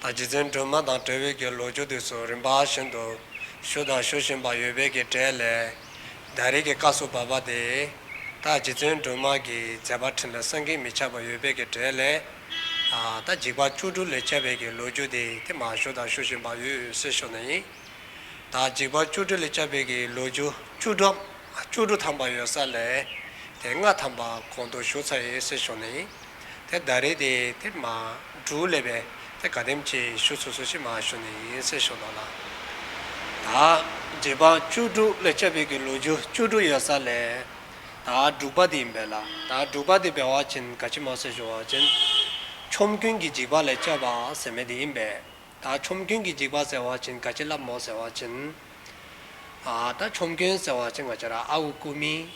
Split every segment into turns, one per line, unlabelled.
ད་རྗེ་བཙུན་སྒྲོལ་མ་དང་བྲལ་བའི་གྱི་ལོ་བཅུ་དུས་སུ་རིམ་པ་བཞིན་དུ་ཞུ་དང་ཞུ་བཞིན་པ་ཡོད་པའི་གྱི་གྲལ་ལས། རྡ་རིག་གི་ཀ་སུ་བ་པ་དེས། ད་རྗེ་བཙུན་སྒྲོལ་མ་གྱི་མཛད་པ་ཕྲིན་ལས་སངས་ཀྱིས་མི་ཁྱབ་པ་ཡོད་པའི་གྱི་གྲལ་ལས། ད་འཇིགས་པ་བཅུ་དྲུག་ལས་ཁྱབ་པའི་གྱི་ལོ་བཅུ་དེ་དེ་མ་ཞུ་དང་ཞུ་བཞིན་པ་ཡོད་སྲིད་ཤོག་ན་ཡིན། ད་འཇིགས་པ་བཅུ་དྲུག་ལས་ཁྱབ་པའི་གྱི་ལོ་བཅུ་བཅུ་དྲུག་བཅུ་དྲུག་ཐམ་པ་ཡོད་ས་ལས། དེ་ལྔ་ཐམ་པ་གོང་དུ་ཞུ་ཚར་ཡོད་སྲིད་ཤོག་ན་ཡིན། དེ་ཟླ་རེ་དེ་དེབ་མ་འབྲུ་ལས་པས་དེ་དགའ་དེམ་ཆེ་ཞུ་ཚུ་ཚུ་ཆི་མ་ཞུ་ནི་ཡིན་སེ་ཞོ་ལོ་ལ། ད་རྗེ་འབངས་བཅུ་དྲུག་ལས་སྤྱ་ཕིག་གི་ལོ་རྒྱུ་བཅུ་དྲུག་ཡོད་ས་ལས། ད་འབྲུག་པ་དེ་ཡིན་པས་ལ་ད་འབྲུག་པ་དེ་བེ་བ་ཅིན་དགའ་ཆི་མ་སེ་ཞུ་བ་ཅིན། ཆོམ་རྒྱུན་གི་འཇིགས་པ་ལས་སྤྱ་བ་ཟེར་མེ་དེ་ཡིན་པས། ད་ཆོམ་རྒྱུན་གི་འཇིགས་པ་ཟེར་བ་ཅིན་དགའ་ཆི་ལབ་མོ་ཟེར་བ་ཅིན། ད་ཆོམ་རྒྱུན་ཟེར་བ་ཅིན་དགའ་ཆི་ར་ཨ་ཨུ་ཀུ་མིང་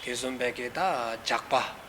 དེ་ཟུམ་པས་ཀི་ད་འཇགས་པ།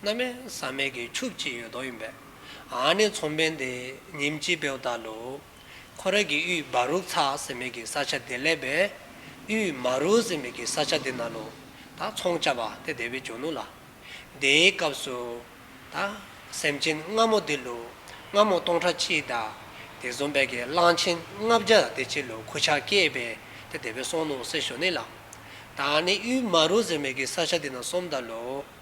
མནའ་མས་ཟ་མལ་གྱི་ཕྱུགས་ཅི་ཡོད་དོགས་ཡིན་པས། ཨཱ་ནི་ཚོང་དཔོན་དེ་ཉིན་གཅིག་བེའུ་བཏགས་ལུགས། ཁོ་རང་གི་དབུས་སྦ་རུག་ཚ་ཟེར་མིག་གི་ས་ཆ་དེ་སླེབས་པས། དབུས་མ་རུག་ཟེར་མིག་གི་ས་ཆ་དེ་ན་ལུགས། ད་ཚོང་བཅའ་བ་དེ་བདེ་བའི་འཇོན་ནུ་ལ། དེའི་སྐབས་སུ། ད་སེམས་ཅན་སྔ་མོ་དེ་ལུགས། སྔ་མོ་སྟོང་ཕྲག་གཅིག་དང། དེ་བཟུང་བས་ཀྱི་གླང་ཆེན་ལྔ་བརྒྱ་དེ་གཅིག་ལུགས་ཁུ་བྱག་སྐྱེས་པས་དེ་བདེ་བའི་སོང་ནུ་ཟེར་ཞོ་ནི་ལ། ད་ཨཱ་ནི་དབུས་མ་རུག་ཟེར་མིག་གི་ས་ཆ་དེ་ན་སོམ་དང་ལུགས།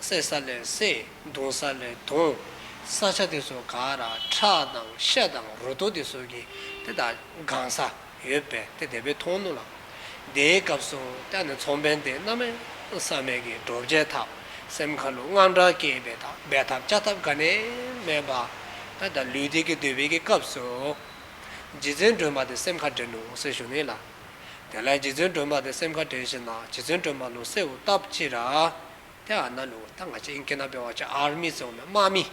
བསྲེག་ས་ལས་བསྲེག་བརྡུང་ས་ལས་བརྡུང། ས་ཆ་དེ་ཚོ་ག་ར་ཁྲག་དང་ཤ་དང་རུ་ཏོ་དེ་ཟོར་གྱི་དེ་དག་དགང་ས་ཡོད་པས་དེ་དེ་བས་མཐོང་ནུས་ལ། དེའི་སྐབས་སུ་ལྟ་ནས་ཚོང་དཔོན་དེ་རྣམས་མེ་བསམ་མེད་ཀྱི་སྒྲོ་བཅད་ཐབས་སེམས་མཁའ་རླུང་དངངས་སྐྲག་སྐྱེས་པས་ད་འབད་ཐབས་བཅའ་ཐབས་ག་ནས་མེད་པ། ད་ལུས་དེ་ཀྱི་འདོད་པའི་ཀྱི་སྐབས་སུ། རྗེ་བཙུན་སྒྲོལ་མ་དེ་སེམས་མཁའ་འགྲན་ནུ་ཟེར་བཞུགས་ནུས་ལ། དེ་ལས་རྗེ་བཙུན་སྒྲོལ་མ་དེ་སེམས་ཁ་དྲན་བཞིན་ན་རྗེ་བཙུན་སྒྲོལ་མ་ལུང་སེ་འུ་ཏབ་ཅི་ར། དེ་ཨ་ན་ལུ་ད་ང་ཅི་ཨིན་ཀི་ན་པེ་བ་ཅི་ཨར་མི་ཙོང་མེ་དམག་མི།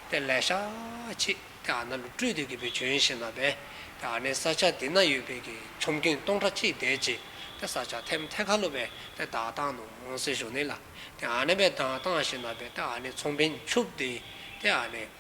དེ་ལས་ཤ་ཆི། དེ་ཨ་ན་ལུ་སྤྲུལ་དུས་ཀི་པི་བྱོན་བཞིན་ན་པེ། དེ་ཨ་ནེ་ས་ཆ་དི་ན་ཡོད་པེ་ཀི་ཆོམ་རྐུན་སྟོང་ཁྲ་ཅིག་དེ་ཅི། དེ་ས་ཆ་ཐེམ་ཐེ་ཁ་ལུ་པེ་དེ་བདག་བཏང་ནུང་སེ་བཞུགས་ནི་ལ། དེ་ཨ་ནེ་པེ་བདང་བཏང་བཞིན་ན་པེ་དེ་ཨ་ནེ་ཚོང་བིན་ཆུབ་དེ། དེ་ཨ་ནེ།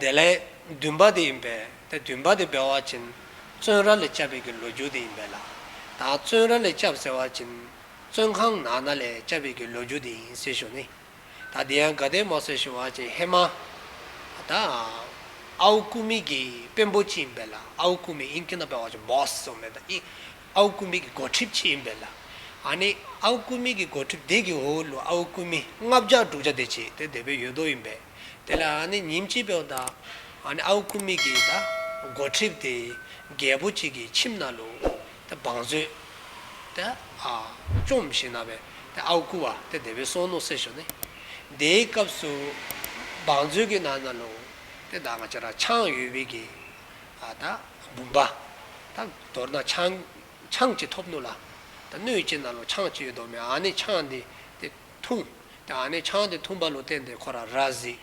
དེ་ལས་བདུན་པ་དེ་ཡིན་པས་དེ་བདུན་པ་དེ་སྦལ་བ་བྱིན། བཙོན་ར་ལས་བཅབས་པའི་གི་ལོ་རྒྱུ་དེ་ཡིན་པས་ལ་དྭགས་བཙོན་ར་ལས་བཅབས་ཟེར་བ་བྱིན། བཙོན་ཁང་ནག་ན་ལས་བཅབས་པའི་གི་ལོ་རྒྱུ་དེ་ཡིན་ཟེར་ཞོར་ནི། ད་དེ་ཡང་དགའ་ལྡན་མོ་ཟེར་ཞོར་བ་བྱིན་ཧེ་མ། ད་ཨའུ་ཀུ་མི་གི་དཔོན་པོ་ཅི་ཡིན་པས་ལ་ཨའུ་ཀུ་མི་ཨིན་ཀི་ན་པའི་བ་བྱིན boss ཟེར་བ་མེད་ད་ཨིན། ཨའུ་སྐུ་མིག་གི་སྒོ་ཁྲིབ་ཅི་ཡིན་པས་ལ། ཨ་ནི། ཨའུ་སྐུ་མིག་གི་སྒོ་ཁྲིབ་དེ་གི་ཧོའུ་ལུ་ཨའུ་སྐུ་མི་ལྔ་བརྒྱ་དྲུག་བརྒྱ་དེ་ཅི་དེ་དེ་བའི་ཡོད་དོ་ཡིན་པས། དེ་ལ་ཨ་ནི་ཉིན་གཅིག་པའོ་ད། ཨ་ནི་ཨའུ་སྐུ་མིག་གི་ད། སྒོ་ཁྲིབ་དེ། རྒྱལ་པོ་གཅིག་གི་ཁྱིམ་ན་ལུ། དེ་བང་མཛོད། དེ་ཨ། བཅོམ་ཞིག་ན་བས། དེ་ཨའུ་སྐུ་བ་དེ་དེ་བའི་སོང་ནོ་སེ་ཞོ་ནི། དེའི་སྐབས་སུ། བང་མཛོད་ཀྱི་ན་ན་ལུ། དེ་ད་ང་ཅ་ར་ཆང་ཡོད་བས་ཀྱི། དང། བུམ་པ། དང། དོར་དང་ཆང། ཆང་བཅས་ཐོབ་ནུས་ལ། དང། སྣོད་བཅས་ན་ལོ་ཆང་བཅས་ཡོད་དོ་མི་འང་ནི་ཆང་འདི། དེ། འཐུང། དེ་འང་ནི་ཆང་འདི་འཐུང་བ་ལུ་ཏན་དེ་ཁོ་ར་ར་གཟིག།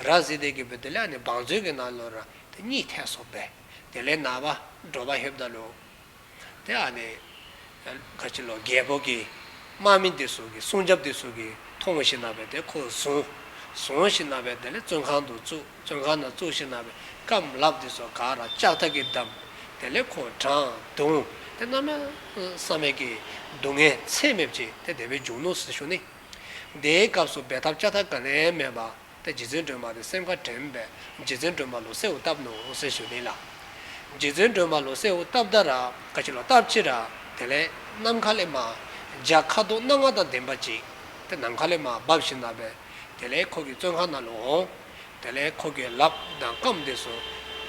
ར་གཟིག་དེ་གི་བུ་དེ་ལས་ནི་བང་མཛོད་ཀྱི་ནང་ལོ་ར་དེ་གཉིས་ཐད་སོགས་པས། དེ་ལས་ན་བ། འགྲོ་བ་ཧེབ་ད་ལུ། དེ་ཨ་ནི། ག་ཅི་ལོ་རྒྱལ་པོ་གིས། དམག་མི་འདི་སུ་གི་སྲུང་སྐྱབས་འདི་སུ་གིས་མཐོང་ངོ་ཞེས་ན་བས་དེ་ཁོ་བཟུང། བཟུང་ཞེས་ན་བས་དེ་ལས་བཙོན་ཁང་དུ་བཙུགས་བཙོན་ཁང་ན་བཙུགས་ཞེས་ན་བས་སྐམ་ལག་འདི་སོ་ག་ར་ལྕགས་ཐག་གིས་བསྡམས། དེ་ལས་ཁོ་དྲངས་བརྡུང། དེ་རྣམས་ལ་བསམ་མེད་ཀྱི་སྡུག་བསྔལ་ཚད་མེད་བྱས་དེ་དེ་བས་འཇུག་ནོ་ཟེར་ཞུ་ནི། དེའི་སྐབས་སུ་འབད་ཐབས་ལྕགས་ཐག་ག་ལས་མེད་པ། ཏེ་རྗེ་བཙུན་སྒྲོལ་མ་དང་སེམས་དགའ་དྲན་པས་རྗེ་བཙུན་སྒྲོལ་མ་ལོ་སེའུ་བཏབ་ནོ་ཟེར་ཞུ་ལེན་ལ། རྗེ་བཙུན་སྒྲོལ་མ་ལོ་སེའུ་བཏབ་ད་ར་ཀ་ཕྱི་ལོ་བཏབ་ཕྱི་ར་དེ་ལས་ནམ་མཁའ་ལས་མ། འཇའ་ཁ་དོག་སྣ་ལྔ་དང་ལྡན་པ་ཅིག་དེ་ནམ་མཁའ་ལས་མ་འབབ་བཞིན་ན་བས་དེ་ལས་ཁོ་གི་བཙོན་ཁང་ན་ལོ་འོང། དེ་ལས་ཁོ་གི་ལབ་དང་སྐམ་དེ་སུ།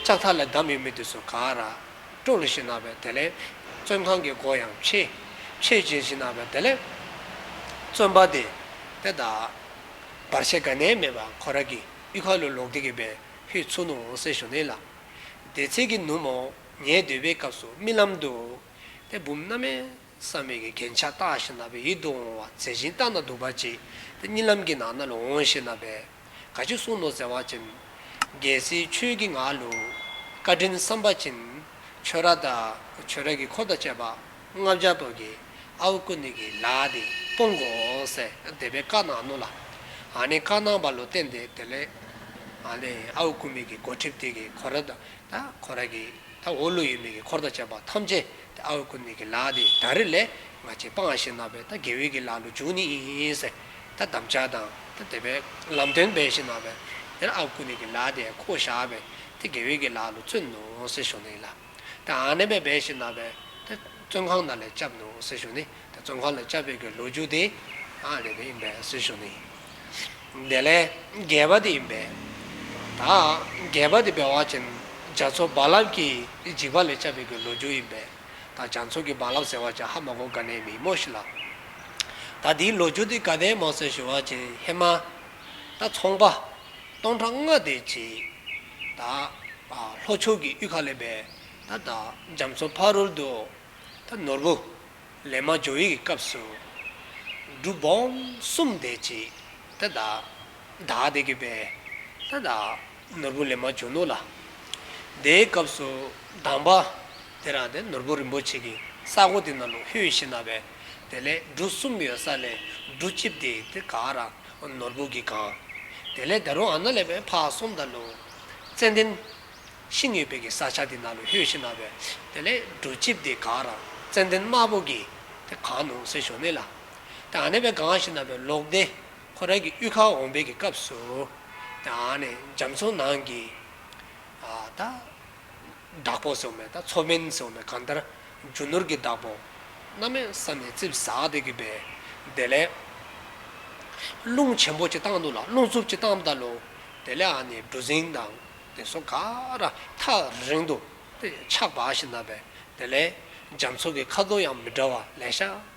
ལྕགས་ཐག་ལས་འདམ་ཡོད་མི་དེ་སུ་ག་ར། སྤྲོ་ལ་བཞིན་ན་བས་དེ་ལས། བཙོན་ཁང་གི་སྒོ་ཡང་ཕྱེ། ཕྱེ་བཞིན་བཞིན་ན་བས་དེ་ལས། བཙོན་པ་དེ་དེ་དག། བར་ཆད་ག་ནས་མེད་པ་ཁོ་ར་གི་དབུས་ཁ་ལོ་ལོག་དེ་གི་བའི་ཧུད་ཚུགས་ནུ་འོང་སེ་ཞོ་ནེ་ལ། དེ་ཚེ་གི་ནུ་མོ་ངའི་སྡོད་པའི་སྐབས་སུ་རྨི་ལམ་དུ། དེ་བུམ་སྣ་མའི་བསམ་མེད་གི་གན་ཆགས་སྟག་ཞིག་ན་བའི་ཡིད་དུ་འོང་བ་ཟེ་ཞིང་སྟག་ན་དུག་པ་ཅིག་དེ་རྨི་ལམ་གི་ནང་ན་ལ་འོང་ཞེ་ན་བས། ག་ཅིག་གསུང་ནོ་ཟེ་བ་ཅིན། རྒྱལ་སྲིད་ཆོས་ཀི་ངག་ལུ། བཀའ་དྲིན་བསམ་པ་ཅིན། ཆོས་ར་དང་ཆོས་ར་གི་འཁོར་དང་བཅས་པ། སྔགས་ལྗགས་ཏོག་གི་ཨ་བུ་ཀུ་ནི་གི་ལ་ཨ་དེ་སྤོང་གོ་འོང་ཟེར་བསྡད་པའི་བཀའ་གནང་ནུ་ལ། ཨ་ནི་བཀའ་གནང་བ་ལོ་བསྟན་དེ་དེ་ལས། ཨ་ནི་ཨ་བུ་ཀུ་མི་གི་གོ་ཁྲིབ་དེ་གི་གོ་ར་ད་གོ་ར་གི་ད་འོ་ཀླུ་ཡུལ་མི་གི་འཁོར་ད་བྱས་པ་ཐམས་ཅད་དེ་ཨ་བུ་ཀུ་ནི་གི་ལ་ཨ་དེ་ད་རི་ལས་ང་ཅི་སྤང་ཨ་ཞེས་གནང་བས་ད་དགེ་འོད་གི་ལ་ཀླུ་འབྱུང་ནི་ཨིན་ཟེར་ད་བསྡམ་བྱ་དང་ད་དེ་བས་ལམ་སྟོན་པས་ཞེས་གནང་བས་དེར་ཨ་བུ་ཀུ་ནི་གི་ལ་ཨ་དེ་ཁོ་བོ་བཞག་པས་དེ་དགེ་འོད་གི་ལ་ཀླུ་བཙོན་ནུ་ཟེར་ཞུ་ནི་ལ། ཏེ། ཨ་ནེ་པའི་སྦས་ཤིག་ན་པས། དེ་བཙོན་ཁང་ན་ལས་སྐྱབས་འདུག་ཟེར་ཞོར་ནི། དེ་བཙོན་ཁང་ལས་སྐྱབས་ཕེབས་ཀྱི་ལོ་རྒྱུས་དེ། ཨ་ནེ་པའི་ཨིན་པས་ཟེར་ཞོར་ནི། དེ་ལས་རྒས་པ་དེ་ཨིན་པས། ད་རྒས་པ་དེ་སྦས་བ་ཅན། རྒྱ་མཚོ་རྦ་རླབས་ཀྱིས་འཇིགས་པ་ལས་སྐྱབས་ཕེབས་ཀྱི་ལོ་རྒྱུས་ཨིན་པས། ད་རྒྱ་མཚོ་གི་རྦ་རླབས་ཟེར་བ་ཅན་ཧ་མ་གོ་ག་ནའི་མི་ཡི་མོ་ཞིག་ལ། ད་དེའི་ལོ་རྒྱུས་དེ་ག་ནའི་མོ་ཟེར་ཞོར་བ་ཅན་ཧེ་མ། ད་ཚོང་པ། སྟོང་ཕྲག་ལྔ་དེ་བྱས། དང། ལྷོ་ཕྱོགས་ཀྱི་གཡུལ་ཁ་ལས་པའི། དང། རྒྱ་མཚོ་ཕ་རོལ་དུ། ནོར་བུ། ལས་མ་འབྱོར་ཡིད་ཀྱི་སྐབས་སུ། སྒྲུབ་བོམ་གསུམ་བཟླས་ཅིག། དང། བདག་བདེ་གྱུར་པའི། དང། ནོར་བུ་ལས་མ་འབྱོར་ནོར་ལ། དེའི་སྐབས་སུ་གདམས་པ། དེ་རང་དེ་ནོར་བུ་རིན་པོ་ཆེ་གི་ས་སྒོ་དེ་ན་ལུག་ཧེའུ་ཤི་ན་བས། དེ་ལས་འབྲུ་གསུམ་ཡོད་ས་ལས་འབྲུ་གཅིབ་དེ་དེ་ག་རང་ནོར་བུ་གྱིས་གང། དེ་ལས་ད་རུང་ཨ་ན་ལས་པའི་ཕ་གསུམ་དང་ལུང། ཙན་ལྡན། ཤིང་ངེས་པའི་གི་ས་ཆ་དེ་ན་ལུ་ཧོས་ཤི་ན་བས། དེ་ལས་འབྲུ་ལྕིབས་དེ་གང་རང་ཙན་ལྡན་དམར་པོ་གྱིས། དེ་གང་ནུང་སེ་ཞོ་མེད་ལ། དེ་ཨ་ནེ་བས་གང་ཤི་ན་བས་ལོག་ལྡན། ཁོ་རང་གི་དབུས་ཁ་འོང་བས་ཀྱི་སྐབས་སུ། དེ་ཨ་ནེ་འཇམ་མཚོ་ནང་གི། ད། བདག་པོ་སོགས་མེད་ད་མཚོ་སྨན་སོགས་མེད་གང་ལྟར། རྒྱུ་ནོར་གྱི་བདག་པོ། རྣམ་མེད་ས་ནས་རྩིབས་ཟགས་བདེ་གི་བས། དེ་ལས། རླུང་ཆེན་པོ་གཅིག་བཏང་འདུག་ལ་རླུང་འཚུབ་གཅིག་བཏང་བདའ་ལོ། དེ་ལས་ཨ་ནི་གྲུ་གཟིངས་དང། དེ་སོ་ག་ར་ཐག་རིང་དུ། ཆགས་པ་ཞིག་ན་བས། དེ་ལས། རྒྱ་མཚོ་གི་ཁ་དོག་ཡང་མི་འདྲ་བ་ལས་ཤ།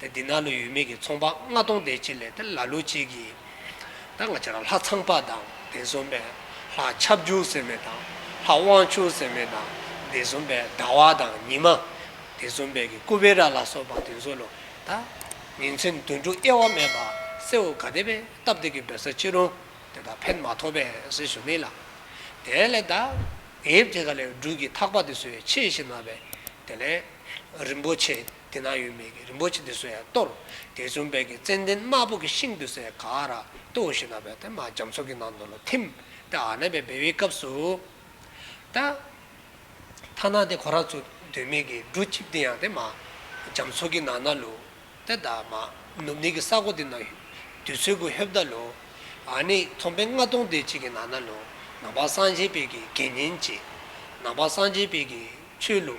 ཏེ་འདི་ནགས་ལུད་ཡུལ་མིག་གི་ཚོང་པ་ལྔ་སྟོང་སྡེ་གཅིག་ལས་ཏེ་ལ་ལུ་གཅིག་གིས། ལྷ་ཚངས་པ་དང་སྡེ་གསུམ་པས་ལྷ་ཆབ་བཅུ་ཟེར་མེད་དང་ལྷ་དབང་ཕྱུག་ཟེར་མེད་དང་སྡེ་གསུམ་པས་ཟླ་བ་དང་ཉི་མ། སྡེ་གསུམ་པས་ཀྱི་ཀུ་བེ་ར་ལ་སོགས་པ་བདུན་གསོལ་ལོ། ད་ཉིན་མཚན་དུས་འཁྲུགས་དབྱེ་བ་མེད་པར་སེ་འུ་ག་དེ་བས་སྟབས་བདེ་གི་འབོད་ས་ཅི་རུང་དེ་དག་ཕན་མ་ཐོགས་པས་ཟེར་ཞུ་ནི་ལགས། དེ་ལས་ད་ངེད་ཀྱི་ག་ལེར་སྦྲུལ་གྱི་ཐག་པ་དེ་སུའི་ཕྱེས་ཤེ་ན་བས་དེ་ལས་རིན་པོ་ཆེ། དེ་ན་ཡོད་མེད་ཀྱི་རིན་པོ་ཆེ་འདི་སུ་ཡང་གཏོར། དེ་བྱོན་དཔལ་གྱི་ཙན་དན་དམར་པོ་གྱི་ཤིང་དུ་སའི་ག་ར་ཏོ་བཞི་ན་བས་ཏེ་མ་རྒྱ་མཚོ་གི་ནང་དུ་ལ་ཐིམ། ཏེ་ཨ་ན་བས་སྦས་བའི་སྐབས་སུ། ཏ། ཐ་ན་ཏེ་གོ་ར་ཚུ་དོན་མེད་ཀྱི་འབྲུ་གཅིག་འདི་ཡང་ཏེ་མ་རྒྱ་མཚོ་གི་ནང་ན་ལུ། ཏེ་ད་མ་ནུབ་ནི་གི་ས་གོ་དི་ན་དུས་ཚོད་གུ་ཧེབ་ད་ལུ། ཨ་ནི་ཐོམ་པའི་རྔ་སྟོང་དེ་གཅིག་གི་ནང་ན་ལུ། ནང་པ་སངས་རྒྱས་དཔལ་གྱི་དགེ་བསྙེན་གཅིག། ནང་པ་སངས་རྒྱས་དཔལ་གྱི་ཆོས་ལུ།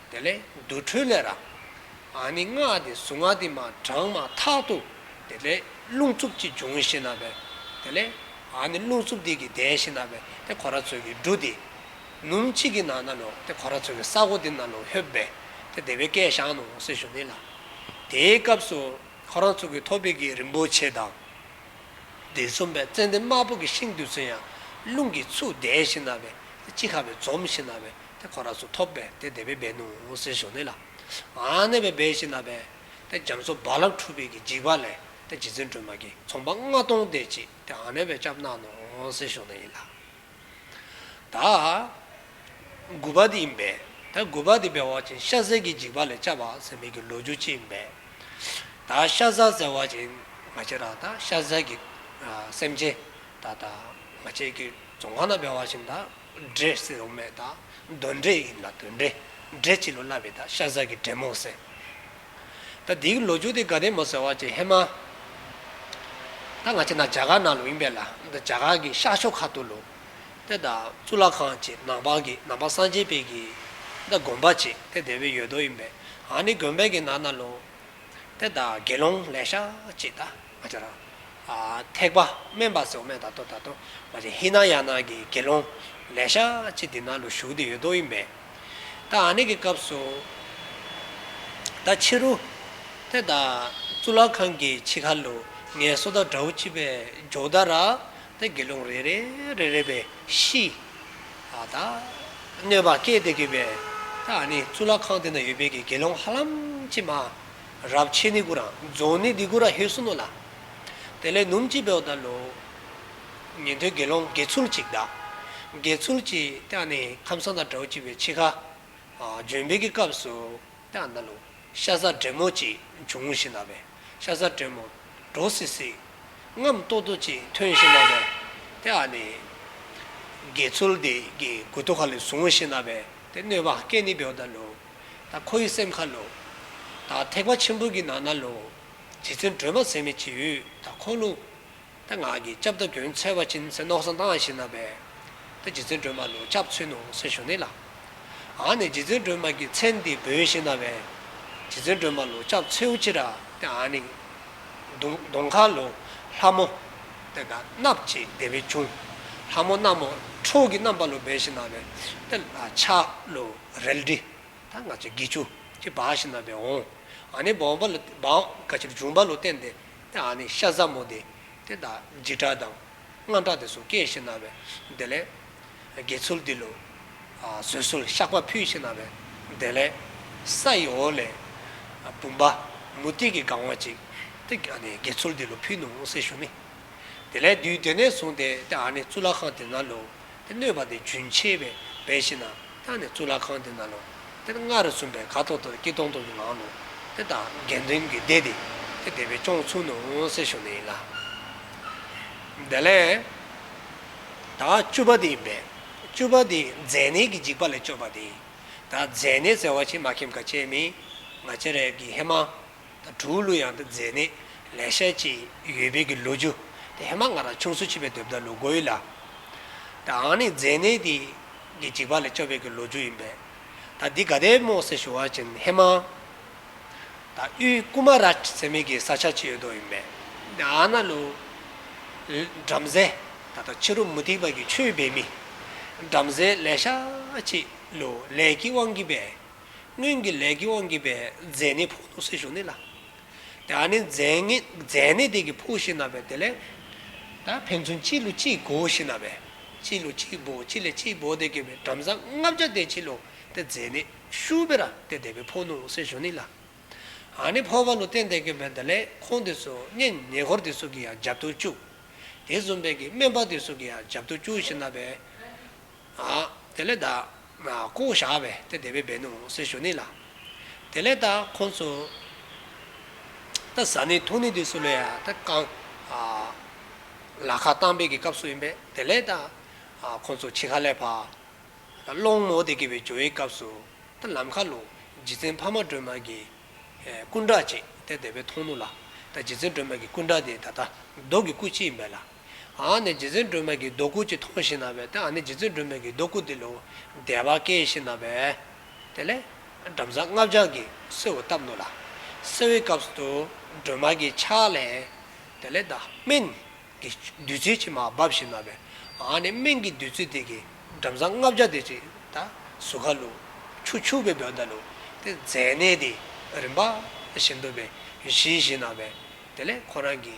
དེ་ལས་འདུ་འཕྲོས་ལས་ར། ཨ་ནི་སྔགས་འདི་གཟུངས་སྔགས་འདི་མ་བགྲང་མ་ཐག་ཏུ། དེ་ལས་རླུང་འཚུབ་ཅིག་འབྱུང་ཞེ་ན་བས། དེ་ལས་ཨ་ནི་རླུང་འཚུབ་འདི་གིས་བདས་ཤེ་ན་བས་ཏེ་གོ་ར་ཚོལ་གིས་འབྲུ་འདི། ནུམ་གཅིག་གིས་ནང་ན་ལོ་ཏེ་གོ་ར་ཚོལ་གིས་ས་གོ་འདི་ན་ལོ་ཧོད་བས་ཏེ་བདེ་བའི་སྐད་བཞག་ནོ་སེ་ཞུ་ནི་ལ། དེའི་སྐབས་སུ་ཁོ་རང་ཚོལ་གིས་ཐོ་བི་གིས་རིན་པོ་ཆེ་དང། འདི་འཛོམ་པའི་ཙན་དན་དམར་པོ་གིས་ཤིང་འདི་ཚོལ་ཡང་རླུང་གིས་ཚུགས་བདས་ཤེ་ན་བས་ཏེ་ཅི་ཁ་བས་འཛོམ་ཤེ་ན་བས། དེ་ཁོ་ར་སོགས་ཐོབ་པས་དེ་དད་པའི་སྦས་ནོ་ཟེར་ཞོ་ནི་ལ། ཨཱ་ནད་པའི་སྦས་ཤིག་ན་བས། དེ་འཇམ་སོགས་རྦ་རླབས་འཁྲུགས་པས་ཀྱི་འཇིགས་པ་ལས་དེ་རྗེ་བཙུན་སྒྲོལ་མ་ཀྱིས་ཚོང་པ་ལྔ་སྟོང་བསྡད་ཅིག་དེ་ཨཱ་ནད་པའི་སྐྱབས་གནང་ནོ་ཟེར་ཞོ་ནི་ཡིན་ལ། ད་མགུ་བ་དེ་ཡིན་པས་ད་མགུ་བ་དེ་བས་བ་ཅིང་ཤ་ཟའི་ཀྱི་འཇིགས་པ་ལས་བཅའ་བ་ཟེར་མི་ཀྱི་ལོ་རྒྱུ་གཅིག་ཡིན་པས། ད་ཤ་ཟ་ཟེར་བ་ཅིང་མ་བྱེད་ར་ད་ཤ་ཟའི་ཀྱི་སེམས་ཅན་ད་ད་མ་བྱེད་ཀྱི་ཙོང་ཁ་ན་བས་བ་ཅིང་ད། འབྲས་སེར་འོ་མའི་དང་གདོན་འབྲས་ཡིན་ལ་དོན་འབྲས་འབྲས་ཕྱི་ལོ་བསླབ་པའི་དང་ཤ་ཟ་གི་འབྲས་མོང་སེར། ད་དེའི་ལོ་རྒྱུས་དེ་དགའ་ལྡན་མོ་ཟེར་བ་ཅིག་ཧེ་མ། ད་ང་ཆེ་ན་བྱ་གག་ནང་ལོ་ཡིན་པས་ལ་ད་བྱ་གག་གི་ཤག་ཤོ་ཁ་ཏུ་ལོ། དེ་ད་གཙུག་ལག་ཁང་ཅིག་ནང་པགས་ཀྱི་ནང་པགས་སངས་རྒྱས་པད་ཀྱི། ད་དགོན་པ་ཅིག་དེ་དེ་བའི་ཡོད་དོ་ཡིན་པས་ཨ་ནི་དགོན་པད་ཀྱི་ནང་ན་ལོ། དེ་ད་དགེ་སློང་ལས་ཤག་ཅིག་ད། མ་འབྱོར་རམ། ཐེག་པ་དམན་པ་ཟེར་བ་མེད་ད་དོ་ད་དོ། མ་ཟེར་ཧི་ན་ཡ་ནག་གི་དགེ་སློང། ལས་ཤག་ཅིག་འདི་ན་ལོ་བཞུགས་དེ་ཡོད་དོ་ཡིན་པས། ད་ཨ་ནེ་གི་སྐབས་སུ། ད་ཕྱི་རུ། དེ་ད་གཙུག་ལག་ཁང་གི་ཕྱི་ཁ་ལུ་ངའི་སོ་ད་དགྲ་བོ་ཅི་བས་འཇོག་ད་ར། ད་དགེ་སློང་རེ་རེ་རེ་རེ་བས་ཤི། ད་གནོད་པ་སྐྱེས་དེ་གི་བས། ད་ཨ་ནེ་གཙུག་ལག་ཁང་དེ་ན་ཡོད་པའི་གི་དགེ་སློང་ཧ་ལམ་ཅི་མ། རབ་ཆེ་ནི་གུ་ར། རྫོང་ནི་ཏི་གུ་ར་ཧེ་སུ་ནོ་ལ། དེ་ལས་ནུམ་གཅིག་བེའུ་དང་ལོ། ཉན་ཐོས་དགེ་སློང་དགེ་ཚུལ་གཅིག་བདག། དགེ་ཚུལ་གཅིག་བདག་ནི་ཁམས་གསང་དང་བྲའོ་གཅིག་པའི་འཆི་ཁ། ལྗོན་པའི་གི་སྐབས་སུ་བདག་འདི་ལོ། ཤ་ཟ་བྲེ་མོ་གཅིག་འབྱུང་ངུ་ཞིག་ན་བས། ཤ་ཟ་བྲེ་མོ། གྲོ་སི་སི། རྔམ་ཏོ་ཏོ་གཅིག་ཐོན་ཞིག་ན་བས། དེ་ཨ་ནི། དགེ་ཚུལ་འདི་གི་གུ་དོ་ཁ་ལི་ཟུང་ངུ་ཞིག་ན་བས། དེ་གནོད་པ་སྐད་ནི་བེའུ་དང་ལོ། དང། ཁོ་ཡི་སེམས་ཁ་ལོ། དང། ཐེག་པ་ཆེན་པོ་གྱི་ནང་ན་ལོ། རྗེ་བཙུན་སྒྲོལ་མ་ཚད་མེད་ཀྱི་ཡུལ་དང་འཁོར་ལོ། ཏེ་ངག་གི་སྐྱབས་དང་གྱོན་ཚལ་བ་ཅིན་སེ་ནོག་སང་ཏང་ཞིན་ན་བའི། ཏེ་རྗེ་བཙུན་སྒྲོལ་མ་ལོ་སྐྱབས་ཚུལ་ནོ་སེ་ཞུ་ནི་ལ། ཨང་ནི་རྗེ་བཙུན་སྒྲོལ་མ་ཀྱི་ཚལ་འདི་བོན་ཞིན་ན་བའི། རྗེ་བཙུན་སྒྲོལ་མ་ལོ་སྐྱབས་ཚུལ་ཨུ་ཅི་ར་ཏེ་ཨང་ནི། དུང་དུང་ཁ་ལོ། ལྷ་མོ། ཏེ་དགའ་སྣབས་ཀྱི་བདེ་བའི་ཁྱུང། ལྷ་མོ་སྣ་མོ། ཁྲོ་གི་རྣམ་པ་ལོ་སྦས་ཞིན་ན་བའི། ཏེ་ལ་ཆ་ལོ། རལ་གྲི། ད་ང་ཚོས་དགེ་ཆུ། ཅེས་འབའ་ཞིག་རྣམས་པས་འོང། ཨ་ནི་འབའ་འོང་འབའ་ལ། འབའ་འོང་ཀ་ཕྱིར་འབྱུང་འབའ་ལུ་བསྟན་ཏེ། ཏེ་ཨ་ནི་ཤ་ཟ་མོ་དེ། ཏེ་ད་འཇིགས་སྐྲག་དང། དངངས་སྐྲག་དེ་སོགས་སྐྱེས་ཤིག་རྣམས་པས། དེ་ལས། དགེ་ཚུལ་འདི་ལོ། བཟོད་གསོལ་བཤགས་པ་ཕུལ་ཤིག་རྣམས་པས། དེ་ལས། ས་ཡི་འོག་ལས། བུམ་པ། མུ་སྟེགས་ཀྱི་སྒང་བ་ཅིག། ཏེ་ཨ་ནི་དགེ་ཚུལ་འདི་ལོ་ཕུལ་ནུ་འོང་སྲིད་ཞུ་ནི། དེ་ལས་བདུད་དེ་ནས་བཟུང་སྟེ་ཏེ་ཨ་ནི་གཙུག་ལག་ཁང་དེ་ན་ལོ། དེ་གནོད་པ་དེ་རྒྱུན་ཆད་པའི་བའི་ཕྱིར་ན་ད་ནི་གཙུག་ལག་ཁང་དེ་ན་ལོ། དེར་སྔགས་རེ་གསུངས་པས་ཁ་དོག་དོག་སྐྱིད་སྟོང་སྟོང་གི་ངང་ནོ། དེ་ལྟར་དགེ་འདུན་གྱི་སྡེ་དེ་དེ་སྡེ་པའི་སྐྱོང་ཚུལ་ནོ་སྲས་གཞུང་ནི་ཡིན་ལ། དེ་ལས་ད་བཅུ་པ་དེ་ཡིན་པས་བཅུ་པ་དེ་མཛེ་ནད་ཀྱི་འཇིགས་པ་ལས་སྐྱོབ་པ་དེ་ཡིན། ད་མཛེ་ནད་བསལ་བ་ཕྱིར་མ་ཁྱིམ་ཁ་ཆེ་མིན། ང་ཅི་རེད་ཀྱི་ཧེ་མ། དང་དྲུག་གླུ་དབྱངས་དང་མཛེས་གནས་ལེགས་བཤད་བཅས་ཡོད་དཔལ་གྱི་ལོ་རྒྱུས་དེ་ཧེ་མ་ང་ར་ཕྱོགས་སུ་མཆིས་པའི་དུས་བདག་ལུགས་གོ་ཡི་ལ། ད་འང་ནི་མཛེས་གནས་དེ་གི་འཇིགས་པ་ལས་སྐྱོབ་དཔལ་གྱི་ལོ་རྒྱུས་ཡིན་པས། ད་འདི་ག་དད་མོ་སེ་ཞུ་བ་ཅན་ཧེ་མ། ད་དབུས་ཀུ་མ་ར་ཅི་མི་གི་ས་ཆ་ཅི་ཡོད་དོ་ཡིན་པས། ད་ཨ་ན་ལུ། བྲམ་ཟེ། ད་ལྟ་ཕྱི་རུ་མུ་ཏིག་བར་གྱི་ཆོས་སྦས་མི། བྲམ་ཟེ་ལེགས་བཤད་བཅས་ལུ་ལས་ཀྱི་དབང་གིས་པས། སྔོན་གྱི་ལས་ཀྱི་དབང་གིས་པའི་རྫས་ནི་ཕོག་ནོ་སྲིད་གཞུང་ནི་ལ། དེ་ཡང་ནི་རྫས་ནི་དེ་གི་ཕོག་ཤི་ན་པའི་དེ་ལས། ད་ཕན་ཚུན་གཅིག་ལུས་གཅིག་བགོ་ཤི་ན་པའི། གཅིག་ལུས་གཅིག་བགོ་གཅིག་ལས་གཅིག་བགོ་དེ་གི་པའི་བྲམ་ཟ་ལྔ་བརྒྱ་དེ་གཅིག་ལུས་དེ་རྫས་ནི་ཤུ་བེ་ར་སྟེ་དེ་པའི་ཕོག་ནོ་སྲིད་གཞུང་ནི་ལ། ཡང་ནི་ཕོག་པ་ལུས་རྟེན་དེ་གི་པའི་དེ་ལས་ཁོང་དེ་སུ་གཉེན་ཉེ་འཁོར་དེ་སུ་གི་ཡང་རྒྱབ་ཏུ་བཅུག། དེ་བཟུང་པའི་གི་སྨན་པ་དེ་སུ་གི་ཡང་རྒྱབ་ཏུ་བཅུག་ཤི་ན་པའི། དེ་ལས་བདག། སྐུ་བཞག་བས་དེ་བདེ་བའི་བེ་ནུ་སེ་ཞོ་ནི་ལ། དེ་ལས་བདག་ཁོང་ཚོ། ད་གཟའ་ནི་ཐུག་ནི་དུས་སུ་ལས་ཡང་ད་བསྐང། ལ་ཁ་བཏང་བས་ཀྱི་སྐབས་སུ་ཡིན་པས་དེ་ལས་བདག། ཁོང་ཚོ་ཕྱི་ཁ་ལས་བ། སློང་མོ་དེ་ཀྱི་བའི་ཇོ་བའི་སྐབས་སུ། ད་ལམ་ཁ་ལུ། རྗེ་བཙུན་འཕགས་མ་སྒྲོལ་མ་ཀྱི། སྐུ་འདྲ་གཅིག་དེ་བདེ་བའི་མཐོང་ནུ་ལ། ད་རྗེ་བཙུན་སྒྲོལ་མ་ཀྱི་སྐུ་འདྲ་དེ་ད་ལྟ་མདོ་ཀྱི་སྐུ་གཅིག་ཡིན་པས་ལ། ཨ་ནི་རྗེ་བཙུན་སྒྲོལ་མས་ཀྱི་རྡོ་སྐུ་གཅིག་མཐོང་ཞིང་ན་བས་ཏེ་ཨ་ནི་རྗེ་བཙུན་སྒྲོལ་མས་ཀྱི་རྡོ་སྐུ་འདི་ལོ་བདེ་བ་སྐྱེ་ཞིང་ན་བས། དེ་ལས། བྲམ་ཟ་ལྔ་བརྒྱ་ཀྱིས་གསོལ་བ་བཏབ་འདུག་ལ། གསོལ་བའི་སྐབས་སུ་སྒྲོལ་མ་ཀྱི་ཕྱག་ལས། དེ་ལས། སྨན། གྱི་བདུད་རྩི་ཕྱི་མ་བབས་ཤིང་ན་བས། ཨ་ནི་སྨན་གྱི་བདུད་རྩི་དེ་ཀྱིས་བྲམ་ཟ་ལྔ་བརྒྱ་དེ་ཅིག་ད་སུ་ཁ་ལུ། ཆུ་ཕྱུགས་པའི་བོན་ད་ལུ། དེ་རྫས་གནས་དེ་རིམ་པ་བཞིན་དུ་བས་ཞི་ཞིང་ན་བས། དེ་ལས་ཁོ་རང་གི།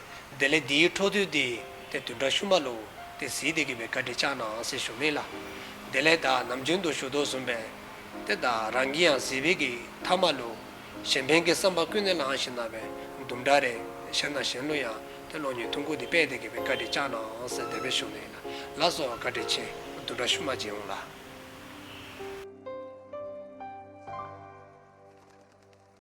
དེ་ལས་འདིའི་འཕྲོ་མཐུད་དེ་དེ་དུས་འདྲ་ཤུ་མ་ལུག་དེ་གཟིགས་དེ་གི་བའི་བཀའ་དྲི་བཅག་ནའང་ཟེར་ཞུ་མེད་ལ། དེ་ལས་བདག་ནམ་རྒྱུན་དུ་ཞུ་དོགས་ཟུམ་པས། དེ་བདག་རང་གི་ཡང་གཟིགས་བས་གི་ཐ་མ་ལུག། གཞན་ཕན་གི་བསམ་པ་ཀུན་ནས་ལངས་ཤིང་ན་བའི་འདུམ་འདྲ་རེད་ཞེ་ན་གཞན་ལུག་ཡང་དེ་ལོ་ཉུལ་ཐུང་ཁུག་དེ་པས་དེ་གི་བའི་བཀའ་དྲི་བཅག་ནའང་ཟེར་དེ་བས་ཞུ་མེད་ལ་ལ་སོགས་བཀའ་དྲི་ཆེ་དུ་འདྲ་ཤུ་མ་བྱེད་འོང་ལ།